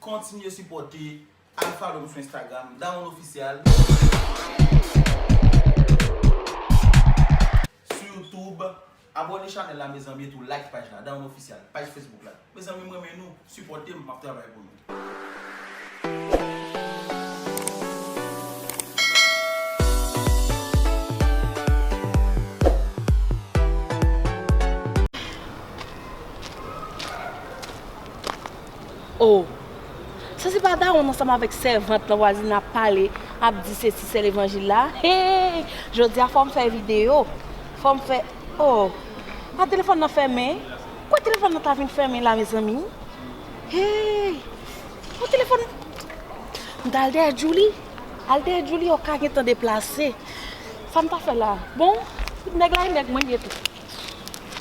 Kontinye sipòte al follow m sou Instagram Dawonn Official Sou YouTube Abòne chanèl la mezanmi etou like paj la Dawonn Official Paj Facebook la Mezanmi m renmen nou Sipòte m map travay pou nou. Oh! Sa se pa dawonn ansanm avèk sèvant nan vwazin ap pale, ap di se ti sè levanjil la? Hee! Jodi a fòm fè video, fòm fè Oh! A telefòn nan fèmen? Kouwè telefòn nan ta vin fèmen la mezanmi? Hee! Oh telefòn M ta al dèyè Djouly, al dèyè Djouly oh ka gentan deplase. Sa m ta fè la? Bon, nèg la e nèg mwen liye tou.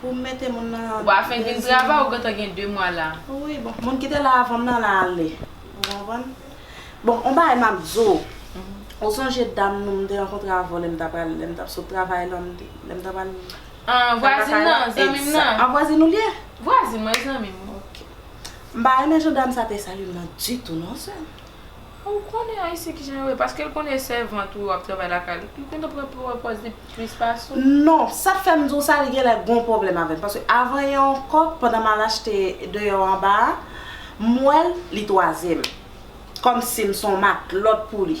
Pou m mete moun nan. Ou pa fenk vin travay ou gentan gen 2 mwa la. Wi bon moun ki te la avan m nan la ale. Ou konprann? Bon on bagay m ap di w. Ou sonje dam nou m te rankontre avan w lè m ta pral lè m t ap sot travay lan m te lè m ta pral. An vwazin nan zanmi m nan. An vwazin ou l ye? Vwazin mwen zanmi m. Ok. M pa renmen jan dam sa te salye m nan ditou non sè m. Ou konnen Ayisyen kijan yo ye paske l konnen sèvant ou yo ap travay lakay li, li kontan pran pran pòz li plis pase w. Non, sa fè m di w sa li genlè gon pwoblèm avè m paske avan yè ankò pandan m al achte deyò anba a, m wè l li twazyèm. Kòmsi m s on matlòt pou li.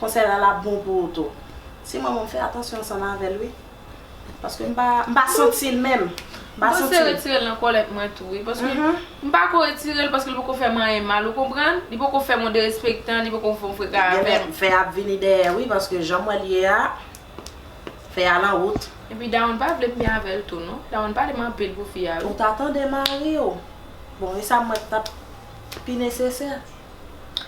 Konsèy la la bon pou ou tou. Si mwen menm m fè atansyon ansanm avèl wi paske m pa m pa santil menm m pa santil. Mpanse retirel nan kòlèt mwen tou wi paske m pako retirel paske li poko fèm anyen mal ou konprann li poko fèm yon derespektan li poko fon freka avèm. Fè a ap vini dèyè wi paske janm wèl ye a fè a lan wout. Epi Dawonn pa vlem byen avèl tou non Dawonn pale m anpil pou fi a wi. Ou ta tande mariw bon esam wè ki tap pi nesesè.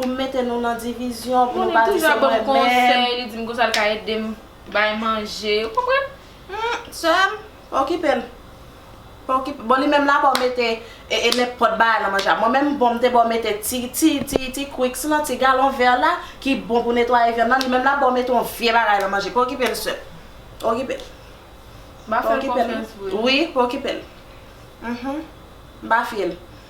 Pou m mete nou nan divizyon, pou nou pa di se mwen menm. Moune toujou ap ban m konsèy, li di m konsa l ka ede m bay manje, ou konprann? Hum, sè m, pa okipe l. Pa okipe l. Bon li menm l a ba w mete nenpòt bagay nan manje a. Mwen menm bon m te ba w mete ti, ti, ti, ti kwiks lan, ti galon vè la ki bon pou netwaye vyann lan, li menm l a ba w mete yon vye bagay nan manje. Pa okipe l sè m. Pa okipe l. M ap fè l konfyans vre. Wi, pa okipe l. Hum, hum. M pa fye l.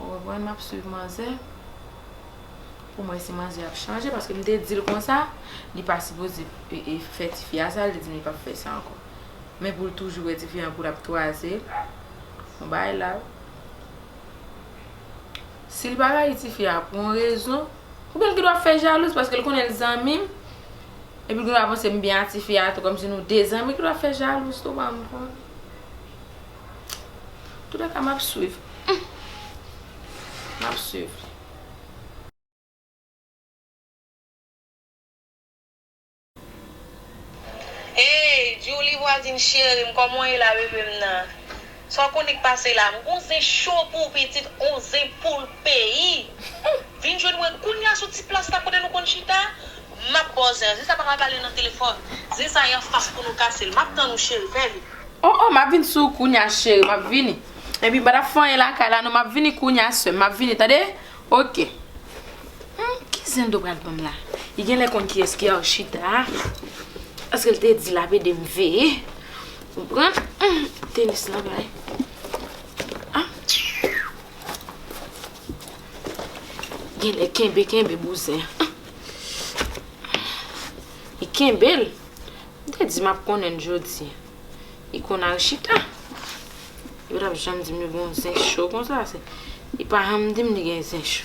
Ou konprann map swiv manzè Pou mwen si manzè ap chanje paske m te di l konsa Li pa sipoze fè tifi a sa l te di m li pap fè sa ankò Men pou l toujou wè tifi an pou l ap twaze l Bon bagay la wi Si l pa rayi tifi a pou yon rezon Oubyen l gen dwa ap fè jalouz paske l konnen l zanmi m Epi l gen dwa panse m byen a tifi a tou kòmsi nou de zanmi l gen dwa ap fè jalouz tou banm konn. Tout le ka m ap swiv. M ap swiv. Hey Djoulie vwazin cherim koman w ye la bebe m nan Sa w konik pase la m gon zen cho pou w pitit on zen poul peyi Vin jwenn mwen kounya sou ti plas la kote nou konn chita Map baw zen an. Zen sa paka pale nan telefon. Zen sa yan fas pou nou kasel. Map tann ou cheri fè vit. Oh oh map vin sou ou kounya cheri map vini epi pa tap fanyen lakay la non map vini kounya seum map vini tande ok humm ki zen do pral banm la li genlè konn kiyès ki Arshita a paskel te di lap edem veye ou konprann humm tenis nan vre ah. Genlè kenbe kenbe bouzen. Li kenbel. M te di map konnen l jodi. Li konn al chita. Li pa tap janm di m li gon zen cho konsa. Li pa janm di m li gen zen cho.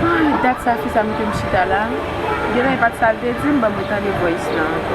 Hi dat sa fisa mete m chita la Gen lè e pat sal te dim banm retande voice lan anko.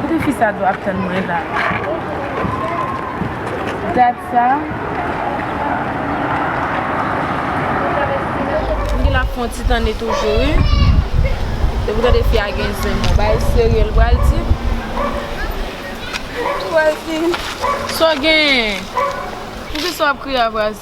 Kote fi sa do ap tann mwen la. Gad sa. Mgin lap fon ti tane toujou wi. Depi tande fi a gen zen bon bagay serye l pral di. Pral di. Saw genyen? Poukisa wap kriye a Vrazz?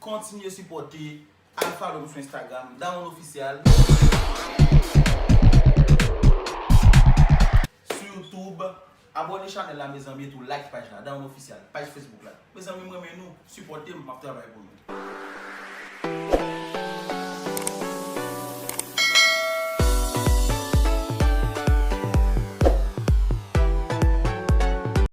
Kontinye sipòte al follow m sou Instagram Daron Official Sou YouTube Abòne chanèl la mezanmi etou like paj la Daron Official Paj Facebook la Mezanmi m renmen nou Sipòte m map travay pou nou.